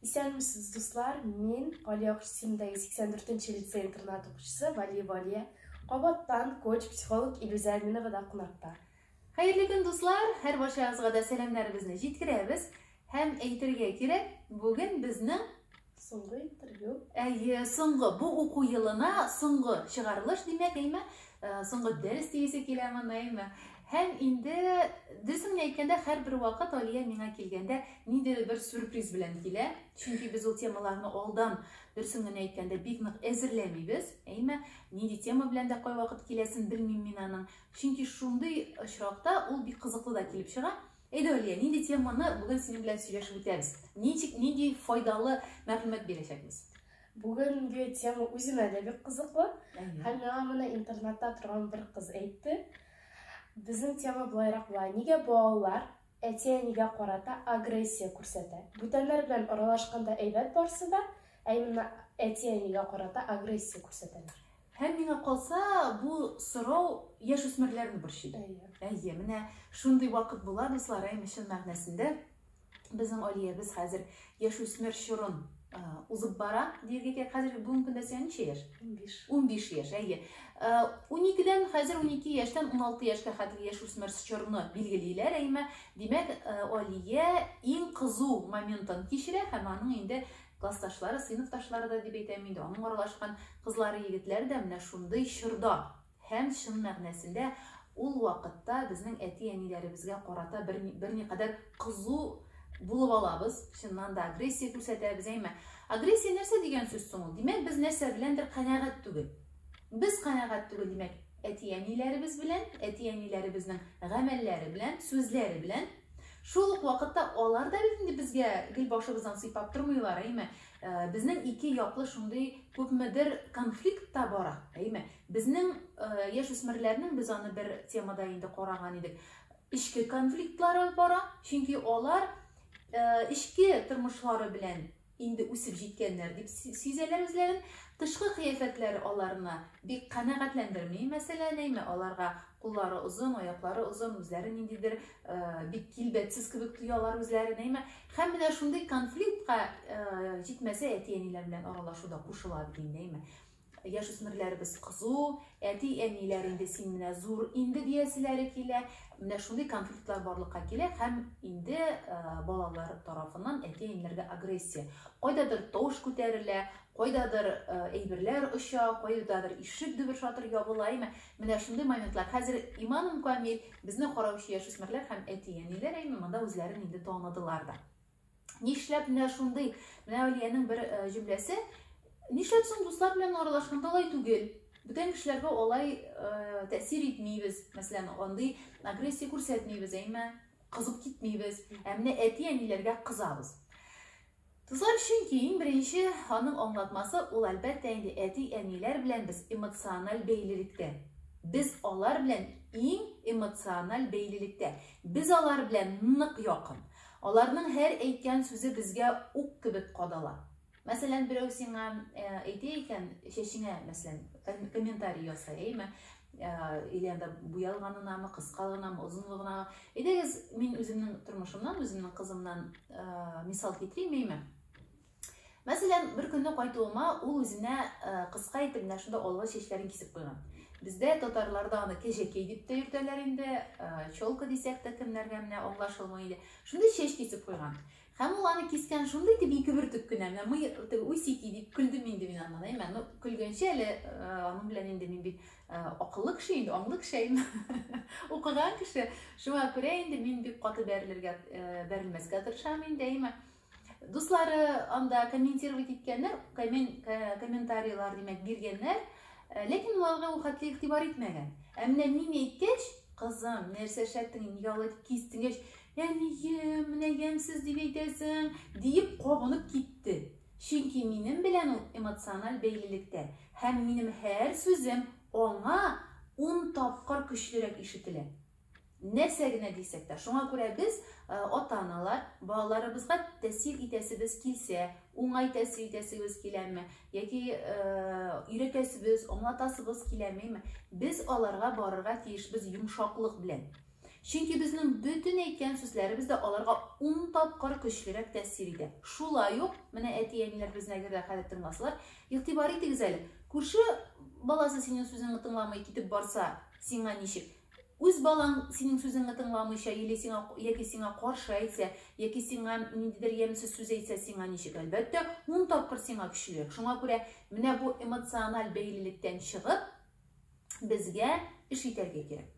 Исәнмесез, дуслар! Мин Галия Кристимдәге 84 нче лицей интернат укучысы Вали Валия. Кабаттан коч психолог Илүзә Әминова да кунакта. Хәерле көн, дуслар! Һәр барчагызга да сәламнәребезне җиткерәбез. Һәм әйтергә кирәк, бүген безнең соңгы интервью. Әйе, соңгы бу уку елына соңгы чыгарылыш димәк, әйме? Э, соңгы дәрес диясе киләме, әйме? Һәм инде, дөресен әйткәндә, һәрбер вакыт Алия миңа килгәндә ниндидер бер сюрприз белән килә. Чөнки без ул темаларны алдан, дөресен генә әйткәндә, бик нык әзерләмибез. Әйме, нинди тема белән дә кайвакыт киләсен белмим мин аның. Чөнки шундый очракта ул бик кызыклы да килеп чыга. Әйдә, Алия, нинди теманы бүген синең белән сөйләшеп үтәбез? Ничек, нинди файдалы мәгълүмат бирәчәкбез? Бүгенге тема үземә дә бик кызыклы. Һәм миңа моны интернатта торган бер кыз әйтте. Безнең тема болайрак була. Нигә балалар әти-әнигә карата агрессия күрсәтә? Бүтәннәр белән аралашканда әйбәт барсы да, ә именно әти-әнигә карата агрессия күрсәтәләр. Һәм миңа калса, бу сорау яшь үсмерләрне борчый. Әйе. Әйе, менә шундый вакыт була, дуслар, әйме чын мәгънәсендә. Безнең Алиябез хәзер яшүсмер чорын узып бара, диергә кирәк. Хәзер бүгенге көндә сиңа ничә яшь? 15. 15 яшь, әйе. 12-дән хәзер 12 яшьтән 16 яшькә хәтле яшүсмер чорны билгелиләр, әйме. Димәк, Алия иң кызу моментын кичерә һәм аның инде классташлары, сыйныфташлары да дип әйтәм инде, аның аралашкан кызлары, егетләре дә менә шундый чорда Һәм, чын мәгънәсендә, ул вакытта безнең әти-әниләребезгә карата бер, берникадәр кызу булып алабыз, чыннан да агрессия күрсәтәбез, әйме. Агрессия нәрсә дигән сүз соң ул? Димәк, без нәрсә беләндер канәгать түгел. Без канәгать түгел, димәк, әти-әниләребез белән, әти-әниләребезнең гамәлләре белән, сүзләре белән. Шул ук вакытта алар да бит инде безгә гел башыбыздан сыйпап тормыйлар, әйме. Безнең ике яклы шундый күпмедер конфликт та бара, әйме. Безнең яшь үсмерләрнең без аны бер темада инде караган идек. Эчке конфликтлары бара, чөнки алар эчке тормышлары белән инде үсеп җиткәннәр дип сизәләр үзләрен. Тышкы кыяфәтләре аларны бик канәгатьләндерми. Мәсәлән, әйме аларга куллары озын, аяклары озын, үзләре ниндидер бик килбәтсез кебек тоялар үзләрен, әйме. Һәм менә шундый конфликтка җитмәсә әти-әниләр белән аралашу да кушыла бит инде, әйме. яшүсмерләребез кызу, әти-әниләр инде син менә зур инде дияселәре килә. Менә шундый конфликтлар барлыкка килә һәм инде балалар тарафыннан әти-әниләргә агрессия. Кайдадыр тавыш күтәрелә, кайдадыр әйберләр оча, кайдадыр ишек дөбер шатыр ябыла, әйме? Менә шундый моментлар. Хәзер иманым камил, безне караучы яшүсмерләр һәм әти-әниләр әйме монда үзләрен инде таныдылар да. Нишләп менә шундый, менә Алиянең бер э, җөмләсе, нишләп соң дуслар белән аралашканда алай түгел? Бүтән кешеләргә алай э, тәэсир итмибез, мәсәлән, андый агрессия күрсәтмибез, әйме, кызып китмибез, ә менә әти-әниләргә кызабыз. Дуслар, чөнки иң беренче аның аңлатмасы ул әлбәттә инде әти-әниләр белән без эмоциональ бәйлелектә. Без алар белән иң эмоциональ бәйлелектә. Без алар белән нык якын. Аларның һәр әйткән сүзе безгә ук кебек кадала. Мәсәлән, берәү сиңа э, әйтә икән, чәчеңә, мәсәлән, комментарий ясай, әйме? или анда буялганынамы кыскалыгынамы озынлыгынамы әйдәгез мин үземнең тормышымнан үземнең кызымнан мисал китерим әйме Мәсәлән, бер көнне кайтуыма ул үзенә э, кыска итеп менә шундый алга чәчләрен кисеп куйган. Бездә татарларда аны кәҗәкәй дип тә йөртәләр инде, э, челка дисәк тә кемнәргә менә аңлашылмый иде. Шундый чәч кисеп куйган. Һәм ул аны кискән шундый итеп ике бөртек кенә, менә мый теге усики дип көлдем инде мин аннан, әйме, ну көлгәнче әле э, аның белән инде мин бит э, акыллы кеше инде, аңлы кеше әйме, укыган кеше. Шуңа күрә инде мин бик каты бәрелергә, э, бәрелмәскә тырышам инде әйме. Дуслары анда комментировать иткәннәр, комментарийлар димәк биргәннәр, э, ләкин аларга ул хәтле игътибар итмәгән. Ә менә мин әйткәч, кызым, нәрсә эшләттең, нигә алай дип кистең дигәч, әнием, менә ямьсез дип әйтәсең, диеп кабынып китте. Чөнки минем белән ул эмоциональ бәйлелектә һәм минем һәр сүзем аңа ун тапкыр көчлерәк ишетелә. нәрсә генә дисәк тә. Шуңа күрә без э, ата-аналар балаларыбызга тәэсир итәсебез килсә, уңай тәэсир итәсебез киләме яки э, өйрәтәсебез, аңлатасыбыз киләмеме, без аларга барырга тиешбез йомшаклык белән. Чөнки безнең бөтен әйткән сүзләребез дә аларга ун тапкыр көчлерәк тәэсир итә. Шулай ук, менә әти-әниләр безне әгәр дә хәзер тыңласалар, игътибар итегез әле. Күрше баласы синең сүзеңне тыңламый китеп барса, сиңа ничек? Үз балаң синең сүзеңне тыңламыйча, или сиңа яки сиңа каршы әйтсә, яки сиңа ниндидер ямьсез сүз әйтсә, сиңа ничек? Әлбәттә, ун тапкыр сиңа көчлерәк. Шуңа күрә менә бу эмоциональ бәйлелектән чыгып, безгә эш итәргә кирәк.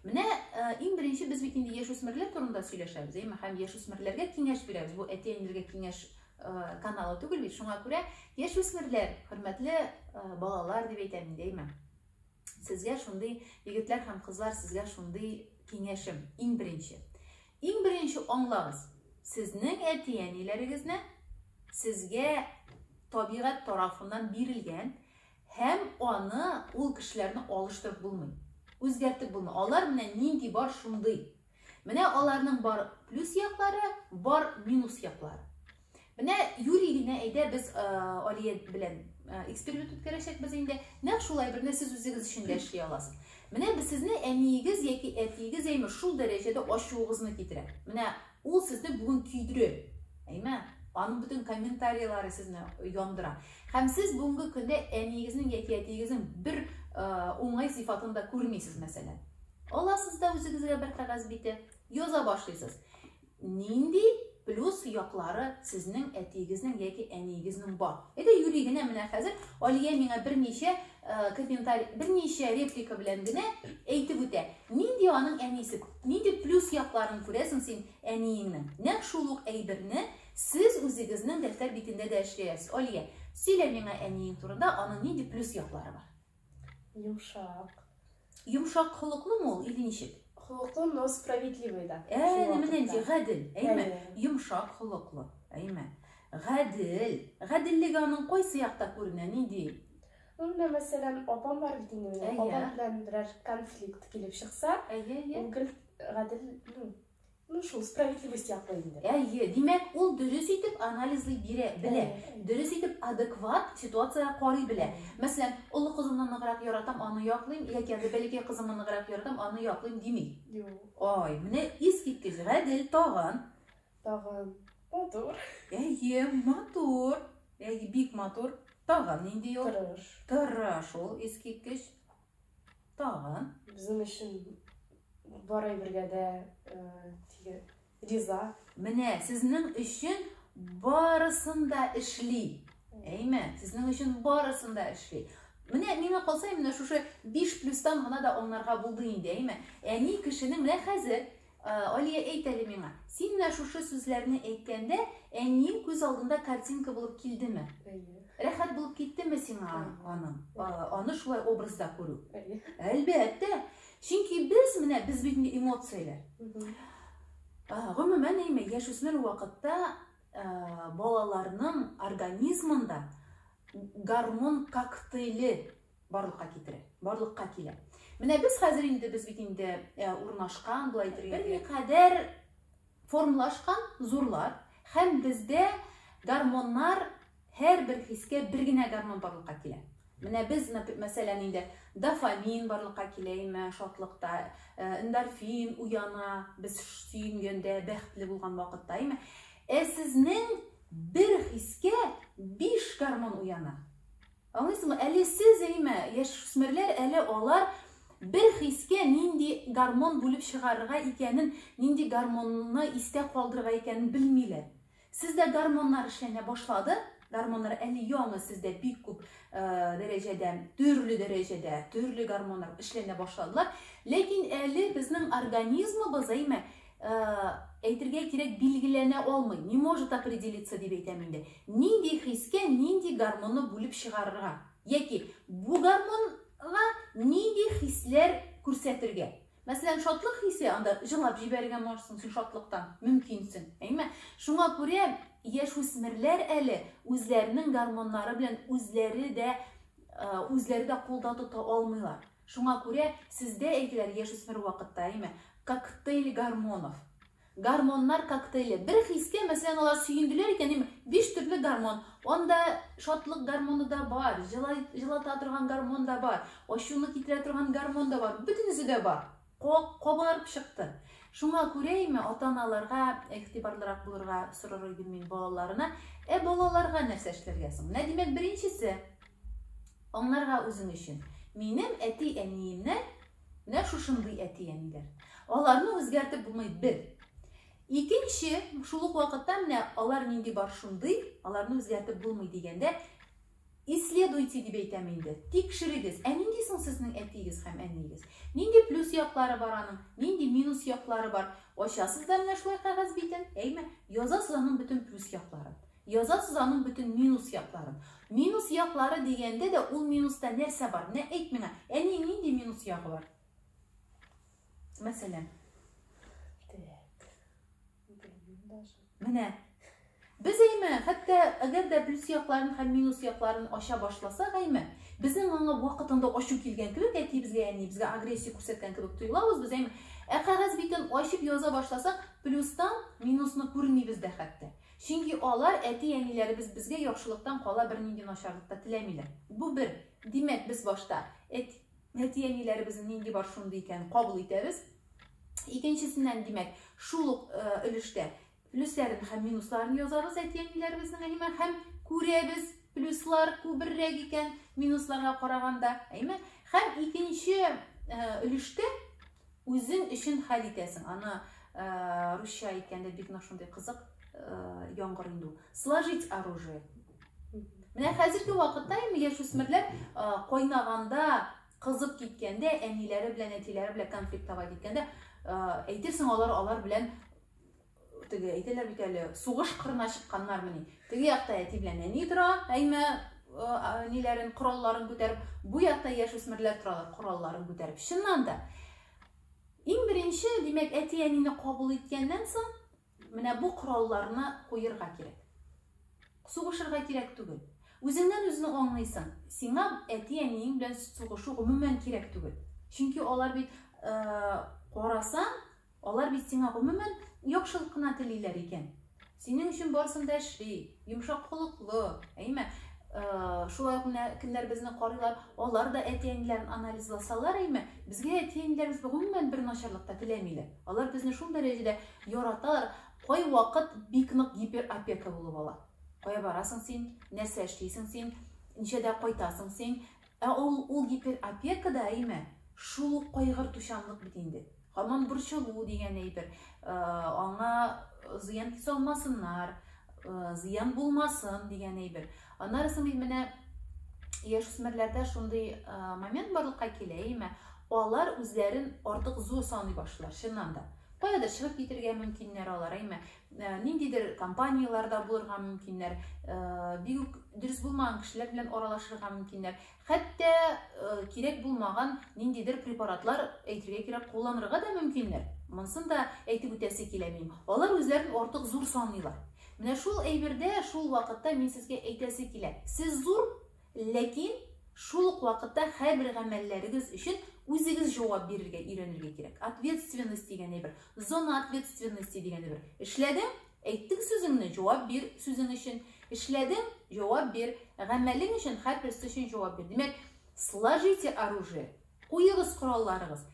Менә э, иң беренче без бит инде яшүсмерләр турында сөйләшәбез, әйме, һәм яшүсмерләргә киңәш бирәбез. Бу әти-әниләргә киңәш э, каналы түгел бит. Шуңа күрә яшүсмерләр, хөрмәтле э, балалар дип әйтәм инде, әйме. сезгә шундый егетләр һәм кызлар сезгә шундый киңәшем иң беренче иң беренче аңлагыз сезнең әти әниләрегезне сезгә табигать тарафыннан бирелгән һәм аны ул кешеләрне алыштырып булмый үзгәртеп булмый алар менә нинди бар шундый Менә аларның бар плюс яклары, бар минус яклары. Менә юри генә әйдә без э, Алия белән э, эксперимент үткәрәчәкбез инде. Нәкъ шулай берне сез үзегез өчен дә эшли аласыз. Менә без сезне әниегез яки әтиегез әйме шул дәрәҗәдә ачуыгызны китерә. Менә ул сезне бүген көйдерә. Әйме? Аның бөтен комментарийлары сезне яндыра. Һәм сез бүгенге көндә әниегезнең яки әтиегезнең бер э, уңай сыйфатын да күрмисез, мәсәлән. Аласыз да үзегезгә бер кәгазь бите, яза башлыйсыз. Нинди плюс яклары сезнең әтиегезнең яки әниегезнең бар? Әйдә юри генә менә хәзер Алия миңа берничә э, комментарий, берничә реплика белән генә әйтеп үтә. Нинди аның әнисе? Нинди плюс якларын күрәсең син әниеңнең? Нәкъ шул ук әйберне сез үзегезнең дәфтәр битендә дә эшләясез. Алия, сөйлә миңа әниең турында, аның нинди плюс яклары бар? Йомшак. Йомшак холыклы мо ул или ничек? Холыклы, но справедливый да. Әне менә ничек гадел, әйме? Йомшак холыклы, әйме? Гадел. Гаделлеге аның кайсы якта күренә, нинди? Ну, менә мәсәлән, апам бар бит инде. Апам белән берәр конфликт килеп чыкса, ул гел гадел, ну, Ну шул справедливость яклы инде. Әйе, димәк, ул дөрес итеп анализлый бирә, белә. Дөрес итеп адекват ситуацияга карый белә. Мәсәлән, олы кызымны ныграк яратам, аны яклыйм, яки әле бәләкәй кызымны ныграк яратам, аны яклыйм дими. Юк. Ай, менә искиткеч, гадел тагын. Тагын матур. Әйе, матур. Әйе, бик матур. Тагын нинди ул? Тырыш. Тырыш ул искиткеч. Тагын. Безнең өчен бар әйбергә дә э, риза. Менә сезнең өчен барысын да эшли. Әйме, сезнең өчен барысын да эшли. Менә миңа калса, менә шушы 5 плюстан гына да аңларга булды инде, әйме. Әни кешенең менә хәзер Э, Алия әйт әле миңа, син менә шушы сүзләрне әйткәндә, әниең күз алдында картинка булып килдеме? Әйе. Рәхәт булып киттеме сиңа аның? Аны шулай образда күрү? Әйе. Әлбәттә. Чөнки без менә без бит инде эмоцияләр. Гомумән әйме, яшүсмер вакытта э, балаларның организмында гормон коктейли барлыкка китерә, барлыкка килә. Менә без хәзер инде, без бит инде э, урнашкан, болай әйтергә кирәк. Берникадәр формлашкан зурлар һәм бездә гормоннар һәр бер хискә бер генә гормон барлыкка килә. Менә без, мәсәлән, инде дофамин барлыкка килә име, шатлыкта, э, эндорфин уяна, без сөенгәндә, бәхетле булган вакытта име. Ә сезнең бер хискә 5 гормон уяна. Аңлыйсызмы? Әле сез әймә, яшүсмерләр әле алар бер хискә нинди гормон бүлеп чыгарырга икәнен, нинди гормонны истә калдырырга икәнен белмиләр. Сездә гормоннар эшләнә башлады, гормоннар әле яңы сездә бик күп э, дәрәҗәдә, төрле дәрәҗәдә, төрле гормоннар эшләнә башладылар. Ләкин әле безнең организмыбыз әйме әйтергә кирәк билгеләнә алмый, не может определиться дип әйтәм инде. Нинди хискә нинди гормонны бүлеп чыгарырга? Яки бу гормонга нинди хисләр күрсәтергә? Мәсәлән, шатлык хисе анда җылап җибәрергә можсың син шатлыктан, мөмкинсең. Әйме? Шуңа күрә яшүсмерләр әле үзләренең гормоннары белән үзләре дә үзләре дә кулда тота алмыйлар. Шуңа күрә сездә әйтеләр яшүсмер вакытта, әйме, коктейль гормонов. Гормоннар коктейле. Бер хискә, мәсәлән, алар сөенделәр икән, әйме, биш төрле гормон. Анда шатлык гормоны да бар, җылата торган гормон да бар, ачуны китерә торган гормон да бар, бөтенесе дә бар. Кабарып чыкты. Шуңа күрәме, ата-аналарга игътибарлырак булырга сорар идем мин балаларына. Ә балаларга нәрсә эшләргә соң? Менә, димәк, беренчесе, аңларга үзең өчен. Минем әти-әниемнән менә шушындый әти-әниләр. Аларны үзгәртеп булмый, бер. Икенче, шул ук вакытта менә алар нинди бар шундый, аларны үзгәртеп булмый дигәндә, Исследуйте дип әйтәм инде. Тикшерегез, ә нинди соң сезнең әтиегез һәм әниегез? Нинди плюс яклары бар аның, нинди минус яклары бар? Ачасыз да менә шулай кәгазь битен, әйме? Язасыз аның бөтен плюс якларын. Язасыз аның бөтен минус якларын. Минус яклары дигәндә дә ул минуста нәрсә бар? Менә әйт миңа, әни нинди минус ягы бар? Мәсәлән, Менә без әйме, хәтта әгәр дә плюс якларын һәм минус якларын ача башласак әйме, безнең аңа вакытында ачу килгән кебек, әти безгә, әни безгә агрессия күрсәткән кебек тоелабыз без әйме. Ә кәгазь битен ачып яза башласак, плюстан минусны күрмибез дә хәтта. Чөнки алар әти-әниләребез безгә яхшылыктан кала бернинди начарлык та теләмиләр. Бу бер. Димәк, без башта әти-әниләребезнең нинди бар шундый икән кабул итәбез. Икенчесеннән, димәк, шул ук өлештә плюсларын һәм минусларын язабыз әти-әниләребезнең әйме һәм күрәбез плюслар күберрәк икән минусларга караганда, әйме? Һәм икенче өлештә үзең өчен хәл итәсең. Аны русча әйткәндә бик нык шундый кызык яңгыр инде. Сложить оружие Менә хәзерге вакытта инде яшүсмерләр кайнаганда, кызып киткәндә, әниләре белән, әтиләре белән конфликтовать иткәндә, әйтерсең алар алар белән теге әйтәләр бит әле, сугыш кырына чыкканнар мени. Теге якта әти белән әни тора, әйме ниләрен, коралларын күтәреп, бу якта яшүсмерләр торалар, коралларын күтәреп. Чыннан да, иң беренче, димәк, әти-әнине кабул иткәннән соң, Менә бу коралларны куерга кирәк. Сугышырга кирәк түгел. Үзеңнән үзне аңлыйсың, сиңа әти-әниең белән сугышу гомумән кирәк түгел. Чөнки алар бит карасаң, алар бит сиңа гомумән яхшылык кына телиләр икән. Синең өчен барысын да эшли. Йомшак холыклы, әйме? Шулай ук менә кемнәр безне карыйлар, алар да әти-әниләрен анализласалар, әйме? Безгә әти-әниләребез гомумән бер начарлык та теләмиләр. Алар безне шул дәрәҗәдә яраталар, кай вакыт бик нык гиперопека булып ала. Кая барасың син? Нәрсә эшлисең син? Ничәдә кайтасың син? Ә ул ул гипер опека да әйме, шул ук кайгыртучанлык бит инде. Һаман борчылу дигән әйбер. Аңа зыян салмасыннар, зыян булмасын дигән әйбер. Аннары соң бит менә яшүсмерләрдә шундый момент барлыкка килә, әйме, алар үзләрен артык зур саный башлар, чыннан да. Каядыр чыгып китергә мөмкиннәр алар, әйме. Э, ниндидер компанияләр дә булырга мөмкиннәр э, бик үк дөрес булмаган кешеләр белән аралашырга мөмкиннәр хәтта э, кирәк булмаган ниндидер препаратлар әйтергә кирәк кулланырга да мөмкиннәр монысын да әйтеп үтәсе килә минем алар үзләрен артык зур саныйлар менә шул әйбердә шул вакытта мин сезгә әйтәсе килә сез зур Ләкин шул ук вакытта һәрбер гамәлләрегез өчен үзегез җавап бирергә өйрәнергә кирәк. Ответственность дигән әйбер, зона ответственности дигән әйбер. Эшләдең, әйттең сүзеңне, җавап бир сүзең өчен. Эшләдең, җавап бир. Гамәлең өчен һәрберсе өчен җавап бир. Димәк, сложите оружие, куегыз коралларыгыз.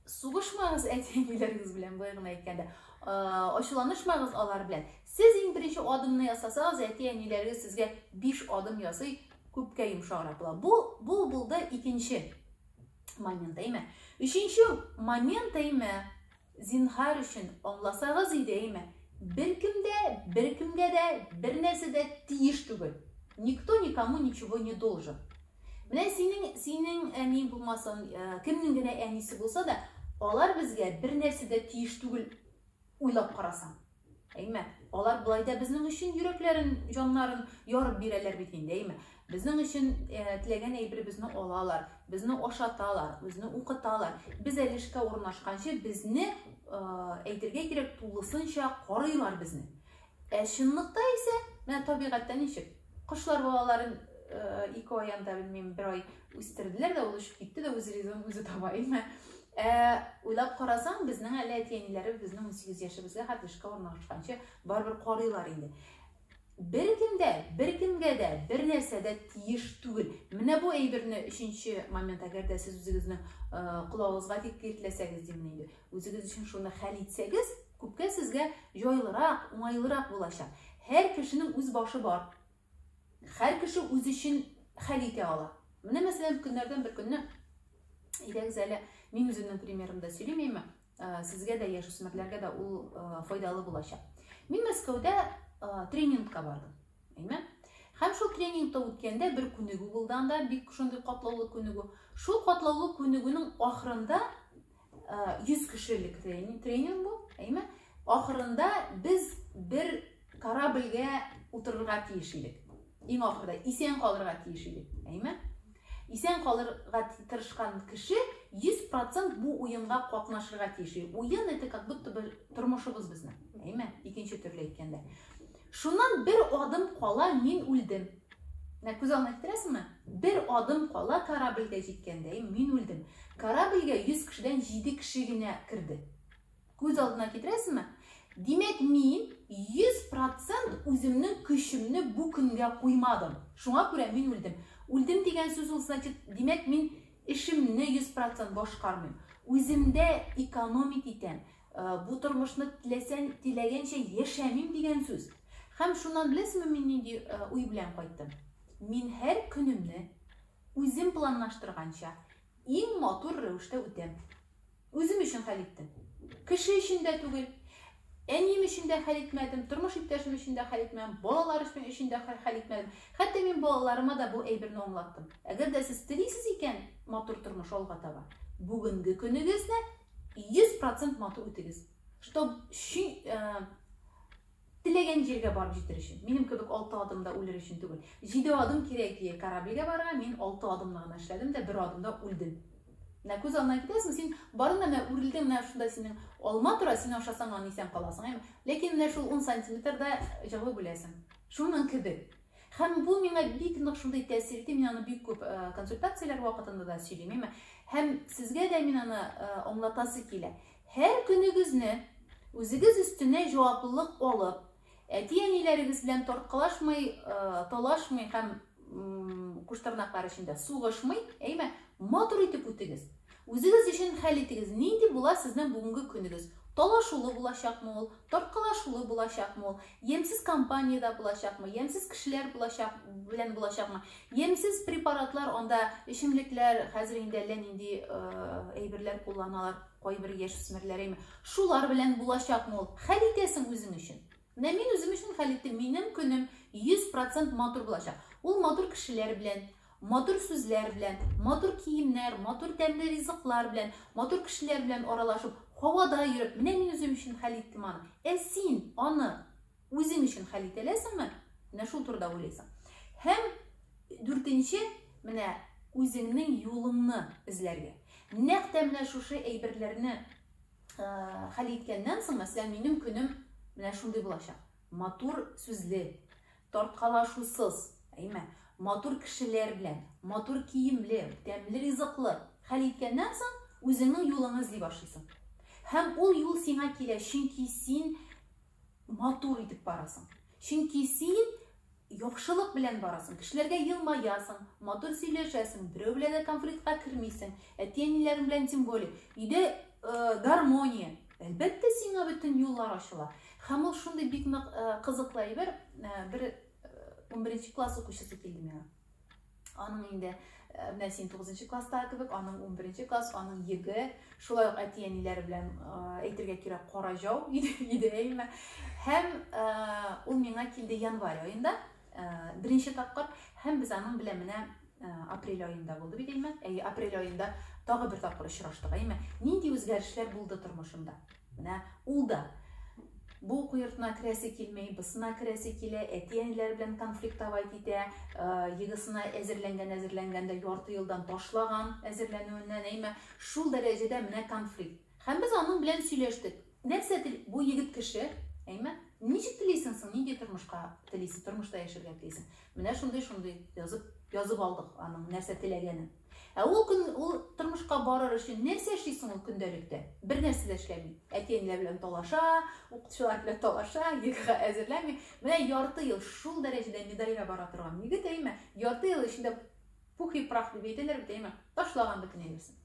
Сугышмагыз әти-әниләрегез белән, былай гына әйткәндә. Ачуланышмагыз алар белән. Сез иң беренче адымны ясасагыз, әти-әниләрегез сезгә 5 адым ясый, күпкә йомшаграк була. Бу бу булды икенче момент, әйме? Өченче момент, әйме? Зинһар өчен аңласагыз иде, әйме? Беркемдә, беркемгә дә, бернәрсә дә тиеш түгел. Никто никому ничего не должен. Менә синең, синең әниң булмасын, э, кемнең генә әнисе булса да, алар безгә бер нәрсә дә тиеш түгел уйлап карасаң. Әйме, алар болай да безнең өчен йөрәкләрен, җаннарын ярып бирәләр бит инде, әйме. Безнең өчен э, теләгән әйберебезне алалар, безне ашаталар, безне укыталар. Без әле эшкә урнашканчы безне э, әйтергә кирәк тулысынча карыйлар безне. Ә чынлыкта исә, менә табигатьтә ничек? Кошлар балаларын ике ай янда белмим, бер ай үстерделәр дә, ул очып китте дә, үз ризыгын үзе таба, әйме? Ә уйлап карасаң, безнең әле әти-әниләре безнең 18 яшебезгә хәтле эшкә урнашканчы барыбер карыйлар инде. Бер кемдә, бер кемгә дә, бер нәрсә дә тиеш түгел. Менә бу әйберне өченче момент, әгәр дә сез үзегезнең колагыгызга тик киртләсәгез дим инде. Үзегез өчен шуны хәл итсәгез, күпкә сезгә җайлырак, уңайлырак булачак. Һәр кешенең үз башы бар. Һәр кеше үз өчен хәл итә ала. Менә мәсәлән, көннәрдән бер көнне идәгез әле, мин үземнең примерымда сөйлимме, ә, сезгә дә яшүсмерләргә дә ул ә, файдалы булачак. Мин Мәскәүдә ә, тренингка бардым. Әйме? Һәм шул тренингта үткәндә бер күнегү булды анда, бик шундый катлаулы күнегү. Шул катлаулы күнегүнең ахырында 100 кешелек тренинг, тренинг бу, әйме? Ахырында без бер корабльгә утырырга тиеш идек. Иң ахырда исән калырга тиеш идек, әйме? Исән калырга тырышкан кеше 100% бу уенга катнашырга тиеш. Уен это как будто бы тормышыбыз безнең, әйме? Икенче төрле әйткәндә. Шуннан бер адым кала мин үлдем. Менә күз алдына китерәсеңме? Бер адым кала корабльгә җиткәндәем мин үлдем. Корабльгә 100 кешедән 7 кеше генә керде. Күз алдына китерәсеңме? Димәк, мин 100% үземнең көчемне бу көнгә куймадым. Шуңа күрә мин үлдем. Үлдем дигән сүз ул, значит, димәк, мин эшемне 100% башкармыйм. Үземдә экономить итәм. Э, бу тормышны теләсәң теләгәнчә яшәмим дигән сүз һәм шуннан беләсеңме мин нинди э, уй белән кайттым мин һәр көнемне үзем планлаштырганча иң матур рәвештә үтәм үзем өчен хәл иттем кеше өчен дә түгел әнием өчен дә хәл итмәдем тормыш иптәшем өчен дә хәл итмәдем балалар өчен дә хәл итмәдем хәтта мин балаларыма да бу әйберне аңлаттым әгәр дә сез телисез икән матур тормыш алга таба бүгенге көнегезне 100 процент матур үтегез. Чтоб шин, ә, теләгән җиргә барып җитер өчен. Минем кебек 6 адымда үлер өчен түгел. 7 адым кирәк ие корабльгә барырга, мин 6 адымны гына эшләдем дә 1 адымда үлдем. Менә күз алдына китерәсең, син барында менә үрелдең, менә шунда синең алма тора, син ашасаң аны исән каласың. Ләкин менә шул 10 сантиметрда җылы үләсең. Шуның кебек. Һәм бу миңа бик нык шундый тәэсир итте, мин аны бик күп э, консультацияләр вакытында да сөйлим, әмма һәм сезгә дә мин аны э, аңлатасы килә. Һәр көнегезне үзегез өстенә җаваплылык алып, әти-әниләрегез белән тарткалашмый, э, талашмый һәм куштырнаклар эчендә сугышмый, әйме, матур итеп үтегез. Үзегез өчен хәл итегез, нинди була сезнең бүгенге көнегез? Талашулы булачакмы ул, тарткалашулы булачакмы ул, ямьсез компаниядә булачакмы, ямьсез кешеләр булачак, белән булачакмы, ямьсез препаратлар анда, эчемлекләр, хәзер инде әллә нинди әйберләр кулланалар, кайбер яшүсмерләр, шулар белән булачакмы ул? Хәл итәсең үзең өчен. Менә мин үзем өчен хәл иттем, минем көнем 100 процент матур булачак. Ул матур кешеләр белән, матур сүзләр белән, матур киемнәр, матур тәмле ризыклар белән, матур кешеләр белән аралашып, һавада йөреп, менә мин үзем өчен хәл иттем аны. Ә син аны үзең өчен хәл итә аласыңмы? Менә шул турыда уйлыйсың. Һәм дүртенче, менә үзеңнең юлыңны эзләргә. Нәкъ тә менә шушы әйберләрне хәл иткәннән соң, мәсәлән, минем көнем менә шундый булачак. Матур сүзле, тарткалашусыз, әйме, матур кешеләр белән, матур киемле, тәмле ризыклы хәл иткәннән соң, үзеңнең юлыңны эзли башлыйсың. Һәм ул юл сиңа килә, чөнки син матур итеп барасың. Чөнки син Яхшылык белән барасың, кешеләргә елмаясың, матур сөйләшәсең, берәү белән дә конфликтка кермисең, әти-әниләрең белән тем более. Өйдә э, гармония. Әлбәттә, сиңа бөтен юллар ачыла. Һәм ул шундый бик нык э, кызыклы әйбер, э, бер э, 11 класс укучысы килде миңа. Аның инде менә син 9 класстагы кебек, аның 11 класс, аның йөге, шулай ук әти-әниләре белән әйтергә кирәк кара җау иде әйме. Һәм ул миңа килде январь аенда, беренче тапкыр, һәм без аның белән менә апрель аенда булды бит әйме. Әйе, апрель аенда тагы бер тапкыр очраштык әйме. Нинди үзгәрешләр булды тормышымда? Менә ул да бу уку йортына керәсе килми, бысына керәсе килә, әти-әниләре белән конфликтовать итә, э, егысына әзерләнгән, әзерләнгән дә ярты елдан ташлаган әзерләнүеннән, әйме, шул дәрәҗәдә менә конфликт. Һәм без аның белән сөйләштек. Нәрсә тел, бу егет кеше, әйме, ничек телисең соң, нинди тормышка телисең, тормышта яшәргә телисең. Менә шундый, шундый язып, язып алдык аның нәрсә теләгәнен. Ә ул көн ул тормышка барыр өчен нәрсә эшли соң ул көндәлектә? Бер нәрсә дә эшләми. Әти-әниләр белән талаша, укытучылар белән талаша, ЕГЭга әзерләми. Менә ярты ел шул дәрәҗәдә медальгә бара торган егет, әйме, ярты ел эчендә пух и прах дип әйтәләр бит, әйме, ташлаган бөтен нәрсәсен.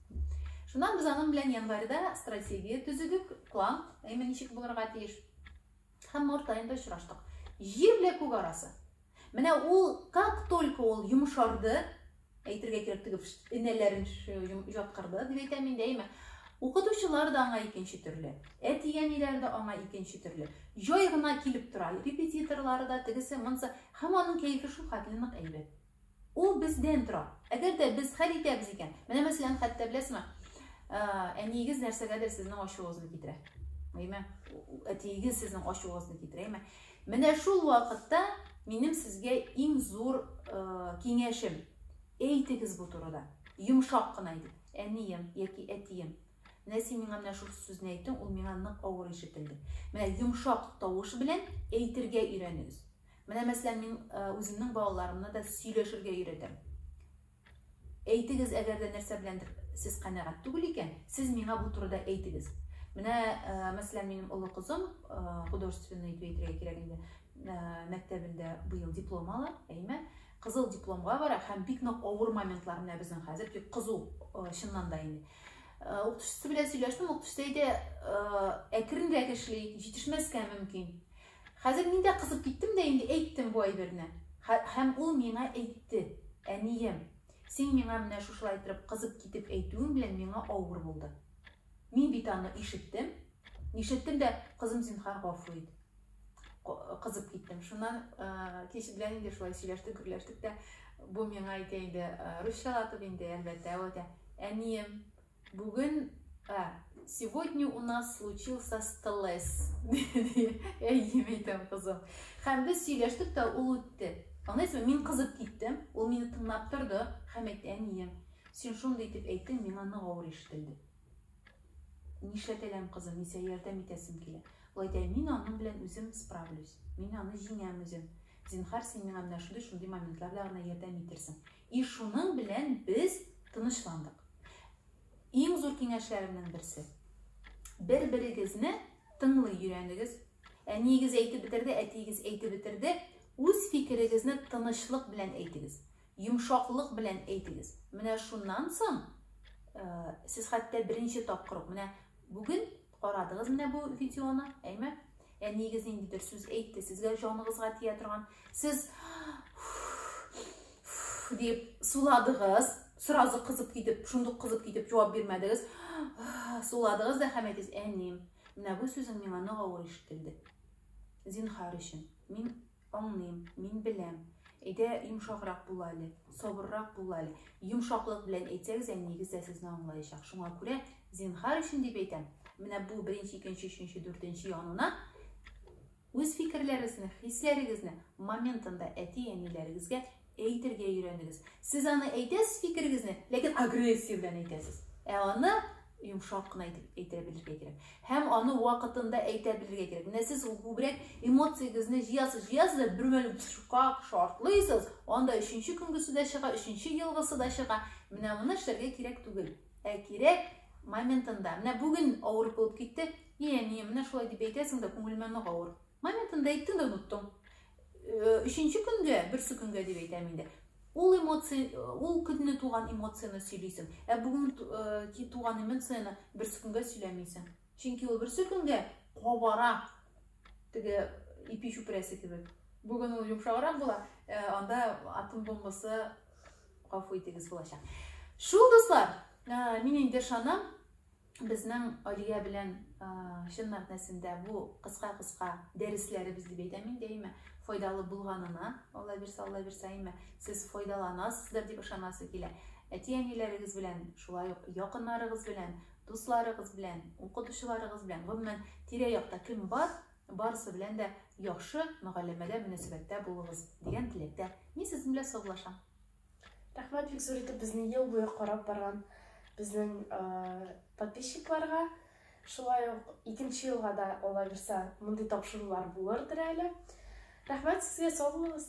Шуннан без аның белән январьда стратегия төзедек, план, әйме, ничек булырга тиеш. Һәм март аенда очраштык. Җир белән күк арасы. Менә ул, как только ул йомшарды, әйтергә кирәк теге энәләрен җаткырды, дип әйтәм мин дәйме. Укытучылар да аңа икенче төрле. Әти-әниләр дә аңа икенче төрле. Җай гына килеп тора. Репетиторлары да тегесе, монсы. Һәм аның кәефе шул хәтле нык әйбәт. Ул бездән тора. Әгәр дә без хәл итәбез икән, менә мәсәлән, хәтта беләсезме, ә, әниегез нәрсәгәдер сезнең ачуыгызны китерә. Әйме? Әтиегез сезнең ачуыгызны китерә, әйме? Менә шул вакытта минем сезгә иң зур киңәшем, әйтегез бу турыда, йомшак кына итеп, әнием яки әтием, менә син миңа менә шул сүзне әйттең, ул миңа нык авыр ишетелде. Менә йомшак тавыш белән әйтергә өйрәнегез. Менә мәсәлән, мин үземнең балаларымны да сөйләшергә өйрәтәм. Әйтегез, әгәр дә нәрсә беләндер сез канәгать түгел икән, сез миңа бу турыда әйтегез. Менә, э, мәсәлән, минем олы кызым, э, художественный дип әйтергә кирәк инде, э, мәктәбендә быел диплом ала, әйме, кызыл дипломга бара һәм бик нык авыр моментлар менә безнең хәзер бик кызу э, чыннан да инде. Э, укытучысы белән сөйләштем, укытучысы әйтә, э, әкренрәк эшлик, җитешмәскә мөмкин. Хәзер мин дә кызып киттем дә инде әйттем бу әйберне. Һәм ул миңа әйтте, Әнием, син миңа менә шушылай торып кызып китеп әйтүең белән миңа авыр булды. Мин бит аны ишеттем. Ишеттем дә, кызым, зинһар, гафу ит. Кызып киттем. Шуннан кич белән инде шулай сөйләштек, гөрләштек тә. Бу миңа әйтә инде, русчалатып инде, әлбәттә, әйтә. Әнием, Бүген ә, сегодня у нас случился стресс. Әйе, әйтәм кызым. Һәм без сөйләштек тә ул үтте. Аңлыйсызмы? Мин кызып киттем, ул мине тыңлап торды һәм әйтте, әнием, син шундый итеп әйттең, миңа нык авыр ишетелде. Нишләтәләм, кызым, мин сиңа ярдәм итәсем килә. Ул әйтә, мин аның белән үзем справлюсь, мин аны җиңәм үзем. Зинхар, син миңа менә шундый-шундый моментлар белән генә ярдәм итерсең. И шуның белән без тынычландык. Иң зур киңәшләремнең берсе. Бер-берегезне тыңлый өйрәнегез. Әниегез әйтеп бетерде, әтиегез әйтеп бетерде. Үз фикерегезне тынычлык белән әйтегез. Йомшаклык белән әйтегез. Менә шуннан соң э, сез хәтта беренче тапкыр, менә бүген Карадыгыз менә бу видеоны, әйме? Әниегез ниндидер сүз әйтте, сезгә җаныгызга тия торган. Сез дип суладыгыз, сразу кызып китеп, шундук кызып китеп җавап бирмәдегез. Суладыгыз да һәм әйтегез, әнием, менә бу сүзең миңа нык авыр ишетелде. Зинхар өчен, мин Аңлыйм, мин беләм. Әйдә, йомшаграк бул әле, сабыррак бул әле. Йомшаклык белән әйтсәгез, әниегез дә сезне аңлаячак. Шуңа күрә, зинһар өчен дип әйтәм, менә бу беренче, икенче, өченче, дүртенче янына үз фикерләрегезне, хисләрегезне моментында әти-әниләрегезгә Әйтергә өйрәнегез. Сез аны әйтәсез фикерегезне, ләкин агрессия белән әйтәсез. Ә аны йомшак кына әйтеп әйтә белергә кирәк. Һәм аны вакытында әйтә белергә кирәк. Менә сез күбрәк эмоциягезне җыясыз, җыясыз да бер мәл шкак шартлыйсыз, анда өченче көнгесе дә чыга, өченче елгысы да чыга. Менә моны эшләргә кирәк түгел. Ә кирәк моментында. Менә бүген авыр булып китте. Е, не, менә шулай дип әйтәсең дә күңелемә нык авыр. Моментында әйттем дә оныттым. Өченче көнгә, берсе көнгә дип әйтәм инде. Ул эмоция, ул көнне туган эмоцияне сөйлисең. Ә бүген ки туган эмоцияне берсе көнгә сөйләмисең. Чөнки ул берсе көнгә кабара. Теге ипи чүпрәсе кебек. Бүген ул йомшаграк була, анда атом бомбасы гафу итегез булачак. Шул дуслар, мин инде шанам, Безнең Алия белән чын мәгънәсендә бу кыска-кыска дәресләребез дип әйтәм мин дәимә, файдалы булганына, Алла бирсә, Алла бирсә, әйме, сез файдаланасыздыр дип ышанасы килә. Әти-әниләрегез белән, шулай ук якыннарыгыз белән, дусларыгыз белән, укытучыларыгыз белән, гомумән, тирә-якта кем бар, барысы белән дә яхшы мөгалләмәдә, мөнәсәбәттә булыгыз дигән теләктә мин сезнең белән саулашам. Рәхмәт бик зур итеп безне ел буе карап барган безнең подписчикларга. Шулай ук икенче елга да алла бирса мондый тапшырулар булырдыр әле. Рәхмәт сезгә, сау булыгыз.